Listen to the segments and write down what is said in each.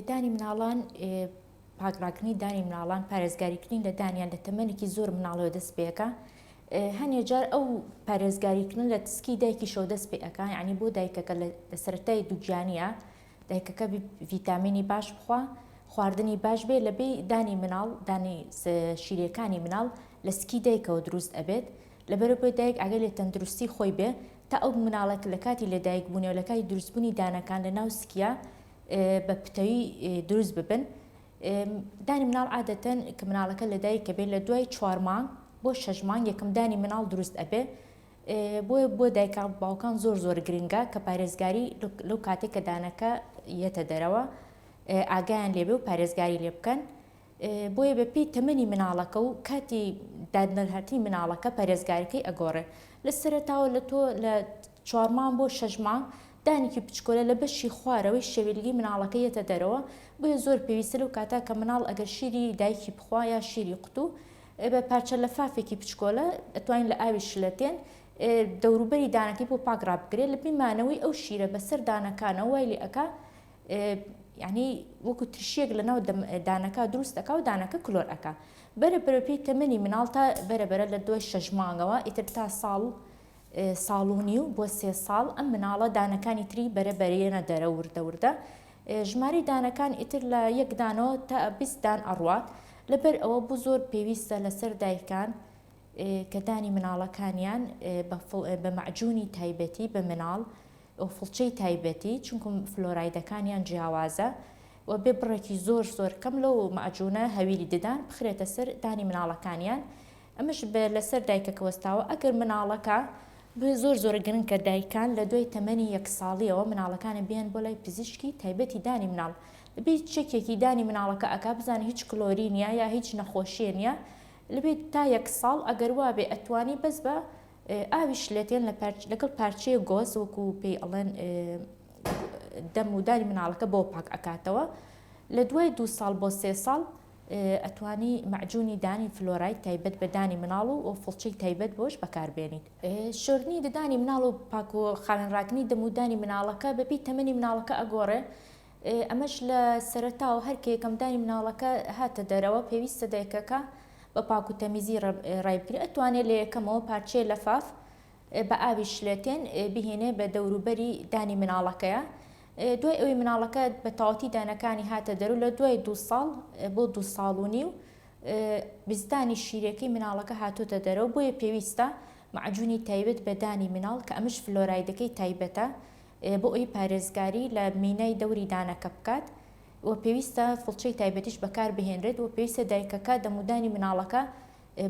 دانی مناڵان، پاکڕاکردنی دانی مناڵان پارێزگاریکردنی لە دانیان لە تەمەنێکی زۆر مناڵەوە دەست پێکا، هەنێ جار ئەو پارێزگاریکردن لە تسکی دایکیشەوە دەست پێ ئەکا، یانی بۆ دایکەکە لە سەرەتای دووگیانییا دایکەکە ڤیتامینی باش بخوا، خواردنی باش بێ لەبی دانی مناڵ دانی شیرەکانی مناڵ لە سکی دایکەوە دروست ئەبێت، لەبەرئەوەی دایک ئاگای لە تەندروستی خۆی بێ تا ئەو مناڵەک لە کاتی لە دایک بوونی و لە کاتی دروست بوونی دانەکان لە ناو سکیا بە پتەوی دروست ببن دانی مناڵ عادەتەن کە مناڵەکە لە دایک کە بێ لە دوای چوار مانگ بۆ شەش مانگ یەکەم دانی مناڵ دروست ئەبێ بۆیە بۆ دایکا باوکان زۆر زۆر گرنگە کە پارێزگاری لەو کاتێک کە دانەکە یەتە دەرەوە ئاگایان لێبێ و پارێزگاری لێ بکەن بۆیە بە پێی تەمەنی مناڵەکە و کاتی دادنرهاتنی مناڵەکە پەرێزگارەکەی ئەگۆڕێ لە سەرەتاوە لە تۆ لە چوارمام بۆ شەژمام دانێکی بچکۆلە لە بەشی خوارەوەی شەویلگی مناڵەکە یەتە دەرەوە بۆیە زۆر پێویستە لەو کاتا کە مناڵ ئەگەر شیری دایکی بخوا یا شیری قوتو بە پارچە لە فافێکی بچکۆلە ئەتوانین لە ئاوی شلەتێن دەوروبەری دانەکەی بۆ پاک ڕابگرێت لە بیمانەوەی ئەو شیرە بەسەر دانەکانە وای لێ ئەکا یعنی وەکو ترشیەک لە ناو دانەکە دروست دەکا و دانەکە کلۆر ئەکا بەرە بەرە پێی تەمەنی مناڵ تا بەرە بەرە لە دوای شەش مانگەوە ئیتر تا ساڵ ساڵونی و بۆ سێ ساڵ ئەم مناڵە دانەکانی تری بەرە بەرێنە دەرە وردە وردە ژماری دانەکان ئیتر لە یەکدانەوە تا بیستدان ئەڕوات لەبەر ئەوە بوو زۆر پێویستە لەسەر دایکان کە دانی مناڵەکانیان بە معجونی تایبەتی بە مناڵ و فڵچەی تایبەتی چونکە فلۆرایدەکانیان جیاوازە و بێ بڕێکی زۆر زۆر کەم لەو مەعجونە هەویری ددان بخرێتە سەر دانی مناڵەکانیان ئەمەش بە لەسەر دایکەکە وەستاوە ئەگەر مناڵەکە بۆیە زۆر زۆر گرنکە دایکان لە دوای تەمەنی یەک ساڵیەوە مناڵەکانە بیان بۆ لای پزیشکی تایبەتی دانی مناڵ لەبێت چەکێکی دانی مناڵەکە ئەک بزانانی هیچ کلۆرینیا یا هیچ نەخۆشیێنە لەبێت تا یەک ساڵ ئەگەر وابێ ئەتوانی بەس بە ئاوی شلەتێن لەگەڵ پارچەیە گۆز وەکو پێی ئەڵێن دەم و داری مناڵەکە بۆ پاک ئەکاتەوە لە دوای دو ساڵ بۆ سێ ساڵ ئەتوانی مەعجونی دانی فلۆرای تایبەت بە دانی مناڵ و فڵچەی تایبەت بۆش بەکاربێنیت شۆردنی ددانی مناڵ و پاک و خاوێنڕاکردنی دەمودانی مناڵەکە بەپی تەمەنی مناڵەکە ئەگۆڕێ ئەمەش لە سەرەتا و هەر کە یەکەمدانی مناڵەکە هاتە دەرەوە پێویستە دایکەکە بە پاک و تەمیزی ڕای بگرێت ئەتوانێت لە یەکەمەوە پارچەیە لەفاف بە ئاوی شلەتێن بهێنێ بە دەوروبەری دانی مناڵەکەیە دوای ئەوی مناڵەکە بە تاوەتی دانەکانی هاتە دەرو لە دوای دو ساڵ بۆ دو ساڵ و نیو بزدانی شیرەکەی مناڵەکە هاتۆتە دەرەوە بۆیە پێویستە معجونی تایبەت بە دانی مناڵ کە ئەمش فلۆرایدەکەی تایبەتە بۆ ئەوەی پارێزگاری لە مینای دەوری دانەکە بکات و پێویستە فڵچەی تایبەتیش بەکاربهێنرێت و پێویستە دایکەکە دەمودانی مناڵەکە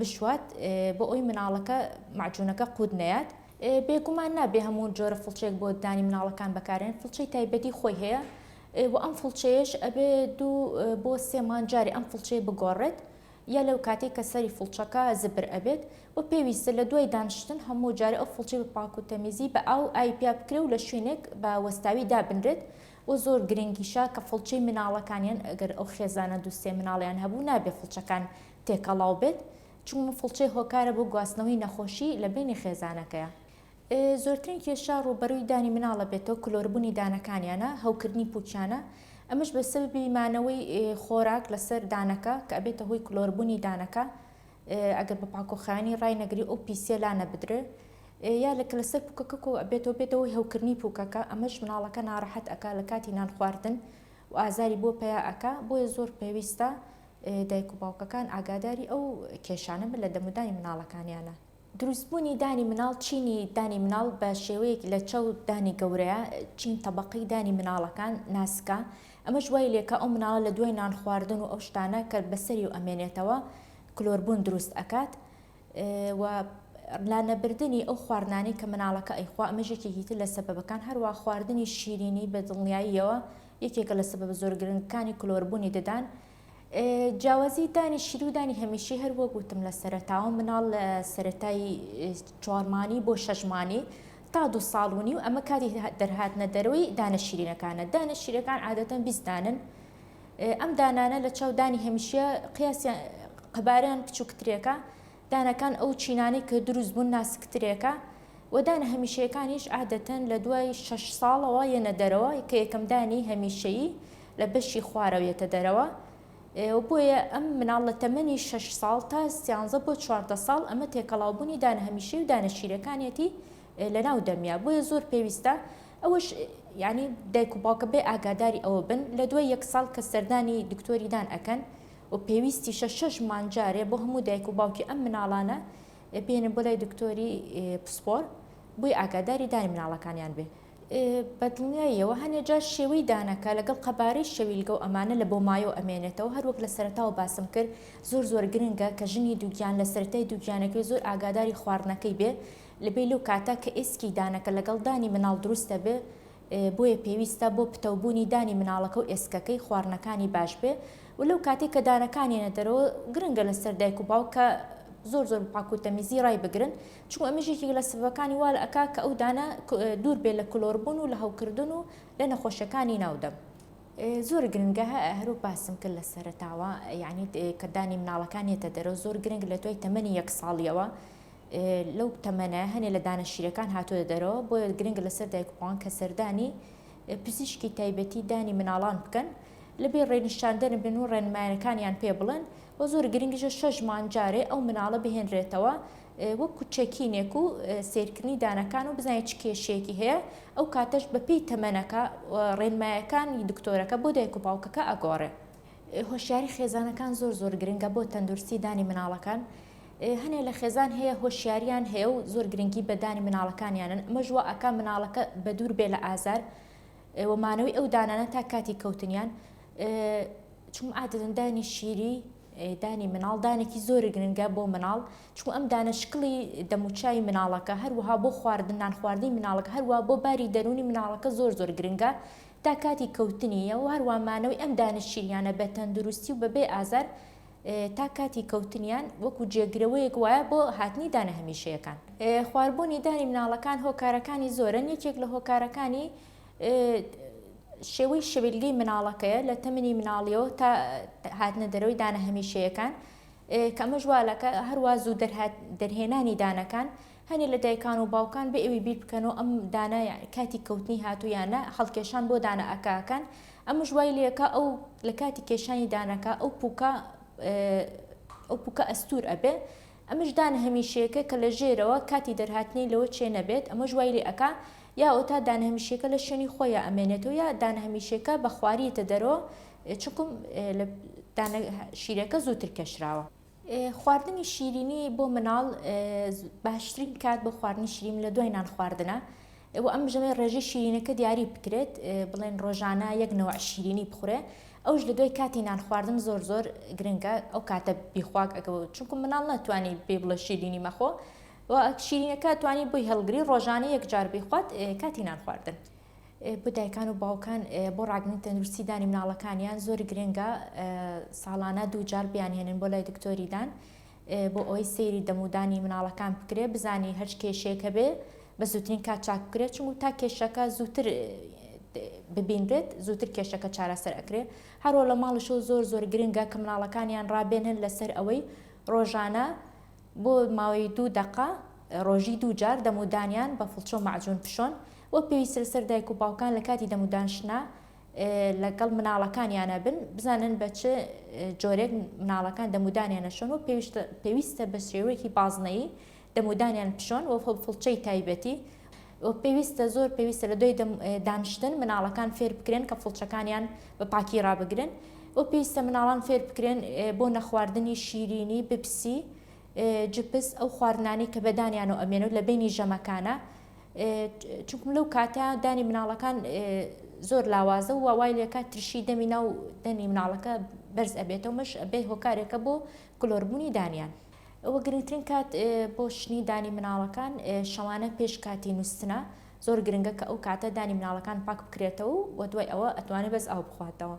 بشوات بۆ ئەوی مناڵەکە مەعجونەکە قووت نەیات بێگومان نابێ هەموو جۆرە فڵچێک بۆ دانی مناڵەکان بەکارێن فڵچەی تایبەتی خۆی هەیە و ئەم فڵچەیەش ئەبێ دوو بۆ سێمان جارێ ئەم فڵچەیە بگۆڕێت یا لەو کاتەی کە سەری فڵچەکە زبر ئەبێت و پێویستە لە دوای دانشتن هەموو جارە ئەو فڵچەی بە پاک و تەمیزی بە ئاو ئاوی پیا بکرێ و لە شوینێک بە وەستاوی دابنرێت و زۆر گرنگیشە کە فڵچەی مناڵەکان یان گەر ئەو خێزانە دوو سێ مناڵیان هەبوو نابێ فڵچەکان تێکەڵاو بێت چونکە فڵچەی هۆکارە بۆ گواستنەوەی نەخۆشی لە بەینی خێزانەکەیا زۆرترین کێشە ڕووبەرووی دانی مناڵە بێتەوە کلۆربوونی دانەکانیانە هەوکردنی پوکیانە ئەمەش بە سەببی مانەوەی خۆراک لەسەر دانەکە کە ئەبێتە هۆی کلۆربوونی دانەکە ئەگەر بە پاکۆخانی ڕای نەگری ئەو پیسە لا نەبدرێ یا لەکە لەسەر پوکەکە کۆ ئەبێتەوە بێتەوەی هەوکردنی پوکەکە ئەمەش مناڵەکە ناڕەحەت ئەک لە کاتی نان خواردن و ئازاری بۆ پیا ئەک بۆیە زۆر پێویستە دایک و باوکەکان ئاگاداری ئەو کێشانە بن لە دەمودانی مناڵەکانیانە. دروستبوونی دانی مناڵ چینی دانی مناڵ بە شێوەیەک لە چەو دانی گەورەیە چین تەبەقەی دانی مناڵەکان ناسکە ئەمەش وای لێکە ئەو مناڵە لە دوای نان خواردن و ئەو شتانە کە بەسەری و ئەمێنێتەوە کلۆربوون دروست ئەکات و لانەبردنی ئەو خواردنانەی کە مناڵەکە ئەیخوا ئەمەش یەکێکی تر لە سەبەبەکان هەروە خواردنی شیرینی بە دڵنیاییەوە یەکێکە لە سەبەبە زۆر گرنگەکانی کلۆربوونی ددان جیاوازی دانی شیری و دانی هەمیشەی هەر وەک وتم لە سەرەتاوە مناڵ لە سەتای چوارمانی بۆ شەژمانی تا دو ساڵ و نیو ئەمە کاتی دەرهاتنە دەرەوەی دانە شیرینەکانە دانە شیرەکان عادەتەن بیستدانن ئەم دانانە لە چاو دانی هەمیشە قیاسیان قەباریان بچووکترێکە دانەکان ئەو چینانەی کە دروست بوون ناسکترێکە و دانە هەمیشەیەکانیش عادەتەن لە دوای شەش ساڵەوە یەنە دەرەوە کە یەکەم دانی هەمیشەیی لە بەشی خوارەوە یەتە دەرەوە و بۆیە ئەم مناڵ لە تەمەنی شەش ساڵ تا سیانزە بۆ چواردە ساڵ ئەمە تێکەڵاو بوونی دانە هەمیشەیی و دانە شیرەکانیەتی لە ناو دەمیا بۆیە زۆر پێویستە ئەوەش یانی دایک و باوکە بێ ئاگاداری ئەوە بن لە دوای یەک ساڵ کە سەردانی دکتۆری دان ئەکەن و پێویستیشە شەش مانگ جارێ بۆ هەموو دایک و باوکی ئەم مناڵانە بێنن بۆ لای دکتۆری پسپۆر بۆی ئاگاداری دانی مناڵەکانیان بێ بەدڵنیاییەوە هەنێ جار شێوەی دانەکە لەگەڵ قەبارەی شەویلگە و ئەمانە لە بۆ مایۆ ئەمێنێتەوە هەروەک لە سەرەتاوە باسم کرد زۆر زۆر گرنگە کە ژنی دووگیان لە سەرەتای دووگیانەکەی زۆر ئاگاداری خواردنەکەی بێ لەبێ لەو کاتە کە ئێسکی دانەکە لەگەڵ دانی مناڵ دروستە بێ بۆیە پێویستە بۆ پتەو بوونی دانی مناڵەکە و ئێسکەکەی خواڕنەکانی باش بێ و لەو کاتەی کە دانەکان یەنە دەرەوە گرنگە لە سەر دایک و باوک کە زۆر زۆر پاکو تەمیزی ڕای بگرن چون ئەمە ژێکی لە سبەکانی وا لە ئەکا کە ئەو دانە دوور بێ لە کلۆربوون و لە هەوکردن و لە نەخۆشەکانی ناودەم. زۆر گرنگە هەروەک باسم کرد لە سەرەتاوە یعنی کە دانی مناڵەکان یەتە دەرەوە زۆر گرنگ لە دوای تەمەنی یەک ساڵیەوە لەو تەمەنە هەنێ لە دانە شیرەکان هاتۆتە دەرەوە بۆیە گرنگ لەسەر دایک بوان کە سەردانی پزیشکی تایبەتی دانی مناڵان بکەن لەبێ ڕێنیشاندەرن بن و ڕێنمایەکانیان پێ بڵێن و زۆر گرنگیشە شەش مان جارێ ئەو مناڵە بهێنرێتەوە وەک کوچەکینێک و سیرکردنی دانەکان و بزانێت چ کێشەیەکی هەیە ئەو کاتەش بەپی تەمەنەکە ڕێنمایەکانی دکتۆرەکە بۆ دایک و باوکەکە ئەگۆڕێ هۆشیاری خێزانەکان زۆر زۆر گرنگە بۆ تەندروستی دانی مناڵەکان هەنێ لە خێزان هەیە هۆشیاریان هەیە و زۆر گرنگی بەدانی مناڵەکانیانن ئەمەش وا ئەکا مناڵەکە بە دوور بێ لە ئازار ئێوە مانەوەی ئەو دانانە تا کاتی کەوتنیان چون ئادەن دانی شیری دانی مناڵ دانێکی زۆر گرنگە بۆ مناڵ چون ئەم دانە شکڵی دەموچای مناڵەکە هەروەها بۆ خواردن نان خواردنی مناڵک هەروە بۆ باری دەرونی مناڵەکە زۆر زۆر گرنگە تا کاتی کەوتنیە و هەروامانەوەی ئەم دانە شیریانە بە تەندروستی و بەبێ ئازار تا کاتی کەوتنیان وەکو جێگرەوەیەک وایە بۆ هاتنی دانە هەمیشەیەکان. خواربوونی دانی مناڵەکان هۆکارەکانی زۆرن، یەکێک لە هۆکارەکانی شێوەی شەویلگەی مناڵەکەیە لە تەمنی مناڵیەوە تا هاتنە دەرەوەی دانە هەمیشەیەکان کە ئەمەش وا دەکات هەروا زوو دەرهێنانی دانەکان هەنێ لە دایکان و باوکان بێ ئەوی بیر بکەنەوە ئەم دانە کاتی کەوتنی هاتوو یان نا، هەڵکێشان بۆ دانە ئەکاکان ئەمەش وای لێ ئەکا ئەو لە کاتی کێشانی دانەکە ئەو پووکە ئەو پووکە ئەستوور ئەبێ، ئەمەش دانە هەمیشەیەکە کە لە ژێرەوە کاتی دەرهاتنی لەوە چێ نەبێت، ئەمەش وای لێ ئەکا یا ئەوتا دانە هەمیشەیەکە لە شوێنی خۆیا ئەمێنێتەوە یا دانە هەمیشەیەکە بە خواری یەتە دەرەوە چونکوم دانە شیرەکە زووتر کێشراوە. خواردنی شیرینی بۆ مناڵ باشترین کات بۆ خواردنی شیرین لە دوای نان خواردنە و ئەم ژەمێ ڕێژی شیرینەکە دیاری بکرێت بڵێن ڕۆژانە یەک نەوە شیرینی بخورێ ئەوش لە دوای کاتی نان خواردن زۆر زۆر گرنگە ئەو کاتە بیخواک ئەگە چونکو مناڵ ناتوانانی بێ بڵە شیرینی مەخۆ و شیرینەکە توانی بۆی هەڵگری ڕۆژانە یەک جار بیخوات کاتی نان خواردن. بۆ دایکان و باوکان بۆ ڕاگرنی تەندروستی دانی مناڵەکانیان زۆر گرنگە ساڵانە دووجار بیانهێنن بۆ لای دکتۆری دان بۆ ئەوەی سەیری دەمودانی مناڵەکان بکرێ بزانی هەچ کێشێک هەبێ بە زووترین کات چاک بکرێت چون و تا کێشەکە زووتر ببینرێت زووتر کێشەکە چارەسەر ئەکرێ هەروە لە ماڵشەوە زۆر زۆر گرنگە کە مناڵەکانیان ڕابێنن لەسەر ئەوەی ڕۆژانە بۆ ماوەی دوو دقا ڕۆژی دووجار دەمودانیان بە فڵچۆ معجون پیشۆن وەک پێویست لەسەر دایک و باوکان لە کاتی دەمودانشتنا لە گەڵ مناڵەکانیانا بن، بزانن بە چ جۆرێک مناڵەکان دەمودانیان ئەشۆن و پێویستە بە شێوەیەکی بازنەیی دەمودانیان بشۆن و فڵچەی تایبەتی و پێویستە زۆر پێویستە لە دوای دانشتن مناڵەکان فێر بکرێن کە فڵچەکانیان بە پاکی ڕابگرن و پێویستە مناڵان فێر بکرێن بۆ نەخواردنی شیرینی بپسی جپس ئەو خواردنانی کە بەدانیان و ئەمێنەوە لە بینی ژەمەکانە چونکم لەو کاتە دانی مناڵەکان زۆر لاوازە و وای لێکات ترشی دەمی ناو دەمی مناڵەکە بەرز ئەبێتەوە مەش بێ هۆکارێکە بۆ کلۆربوونی دانیان ئەوە گرنگترین کات بۆ شنی دانی مناڵەکان شەوانە پێش کاتی نووسنە زۆر گرنگە کە ئەو کاتە دانی مناڵەکان پاک بکرێتەوە و دوای ئەوە ئەتوانێت بەس ئاو بخواتەوە.